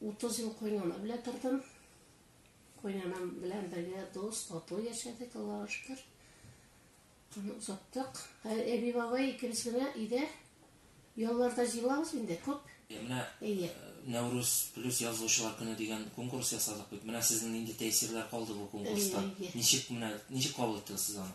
Утыз ел кайнана белән тордым. Кайнанам белән бергә дус, тату яшәдек, Аллага шөкер. Аны озаттык. Әби бабай икебез генә өйдә. Ялларда җыелабыз инде күп. Менә э, Нәүрүз плюс язучылар көне дигән конкурс ясадык бит. Менә сезнең нинди тәэсирләр калды бу конкурста? Ничек менә ничек кабул иттегез сез аны?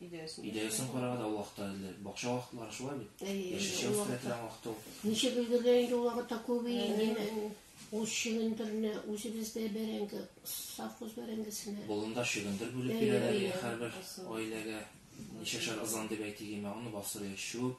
Идеясын. Идеясын карага да ул вакытта эзләр. Бакча вакытлары шулай бит. Яшелчә үстерә торган вакыт ул. Ничек өлгерә инде ул вакытта күбе ниме? Ул чөгендерне үзебездә бәрәңге, совхоз бәрәңгесенә. Болында чөгендер бүлеп бирәләр һәрбер гаиләгә. Ничәшәр ызан дип әйтик име, аны бастырып чүп,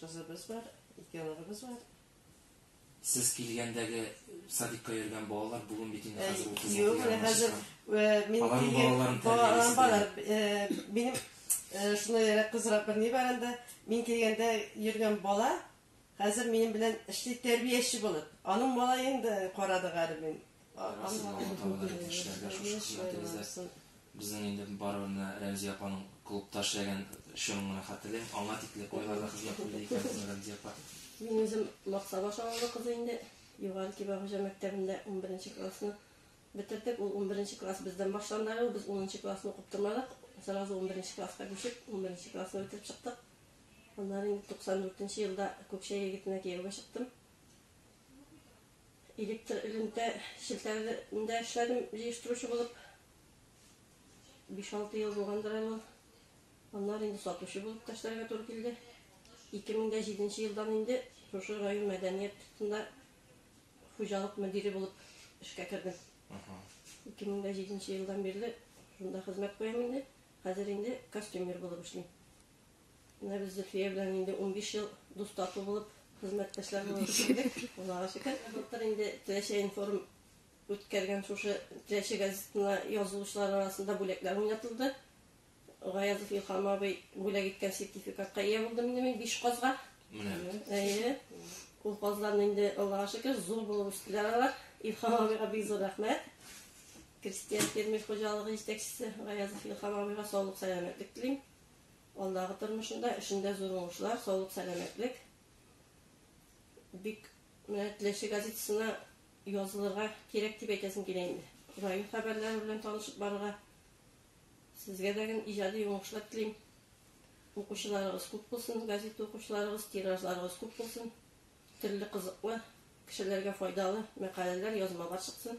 кызыбыз бар, ике оныгыбыз бар. Сез килгәндәге садикка йөргән балалар бүген бит инде хәзер 30 Юк, менә хәзер мин балаларым балаларым бар. Минем шуны яра кызрак бер ни бар инде. Мин килгәндә йөргән бала хәзер минем белән эшли тәрбияче булып. Аның малаен да карады гәрәй мин. Барыгызны Алла Тәгалә рәхмәт эшләргә шушы хезмәтегездә. Безнең инде барыбер менә Рәмзия апаның клубта эшләгән чорын гына хәтерлим. Аңа тикле кайларда хезмәт кылды икән безнең Рәмзия апа. Мин үзем Максабаш авылы кызы инде. Югары Кибә хуҗа мәктәбендә унберенче классны бетердек. Ул унберенче класс бездән башланды әле, без унынчы классны укып тормадык. Сразу унберенче класска күчеп, унберенче классны бетереп чыктык. Аннары инде туксан дүртенче елда Күкчәй егетенә кияүгә чыктым. Электр элемтә челтәрендә эшләдем җыештыручы булып. 5-6 ел булгандыр әле ул. Аннары инде сатучы булып та эшләргә туры килде. 2007 елдан инде шушы район мәдәният тында хуҗалык мөдире булып эшкә кердем. 2007 елдан бирле шунда хезмәт куям инде. Хәзер инде костюмер булып эшлим. Менә без Зөлфия белән инде унбиш ел дус тату булып, хезмәттәшләр булып эшләдек. Аллага шөкер. Былтыр инде Теләче информ үткәргән шушы Теләче газетына язылучылар арасында бүләкләр уйнатылды. Гаязов Илхам абый бүләк иткән сертификатка ия булдым инде мин биш казга. Әйе. Ул казларны инде Аллага шөкер зур булып үстеләр алар. Илхам абыйга бик зур рәхмәт. Крестьян фермер хуҗалыгы җитәкчесе Гаязов Илхам абыйга саулык сәламәтлек телим. Алдагы тормышында, эшендә зур уңышлар, саулык, сәламәтлек. Бик менә Теләче газетасына язылырга кирәк дип әйтәсем килә инде. Район хәбәрләре белән танышып барырга. Сезгә дә гел иҗади уңышлар телим. Укучыларыгыз күп булсын, газета укучыларыгыз, тиражларыгыз күп булсын. Төрле кызыклы, кешеләргә файдалы мәкаләләр, язмалар чыксын.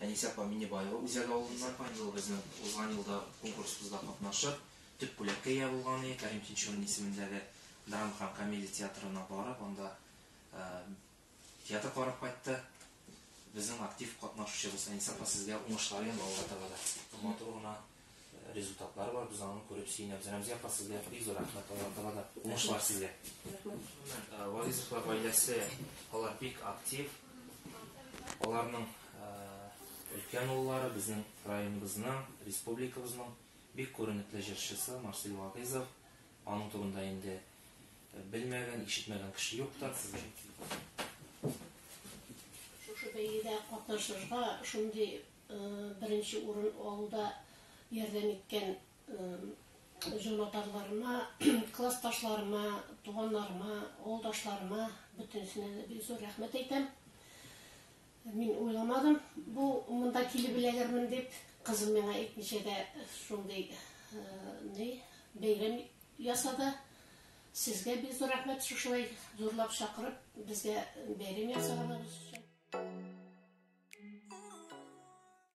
Әнисә апа Миннебаева үзәге авылыннан узган ел безнең узган елда конкурсыбызда катнашып, төп бүләккә ия булган иде, Кәрим Тинчурин исемендәге драма һәм комедия театрына барып, анда театр карап кайтты. Безнең актив катнашучыбыз Әнисә апа, сезгә уңышлар яны алга таба да матур гына. результатлар бар, без аны күреп сөенәбез. Рәмзия апа, сезгә бик зур рәхмәт, Аллаһ таба да уңышлар сезгә. Вагизовлар гаиләсе, алар бик актив. Аларның өлкән уллары безнең районыбызның, республикабызның бик күренекле җырчысы Марсель Вагизов. Аның турында инде белмәгән, ишетмәгән кеше юктыр. Шушы бәйгедә катнашырга шундый Беренче урын алуда ярдәм иткән җанатарларыма, классташларыма, туганнарыма, авылдашларыма бөтенесенә дә бик зур рәхмәт әйтәм. Мин уйламадым, бу монда килеп эләгермен дип, кызым миңа әйтмичә дә шундый ни бәйрәм Ясады. Сезгә бик зур рәхмәт шушылай зурлап чакырып безгә бәйрәм ясаганыбыз өчен.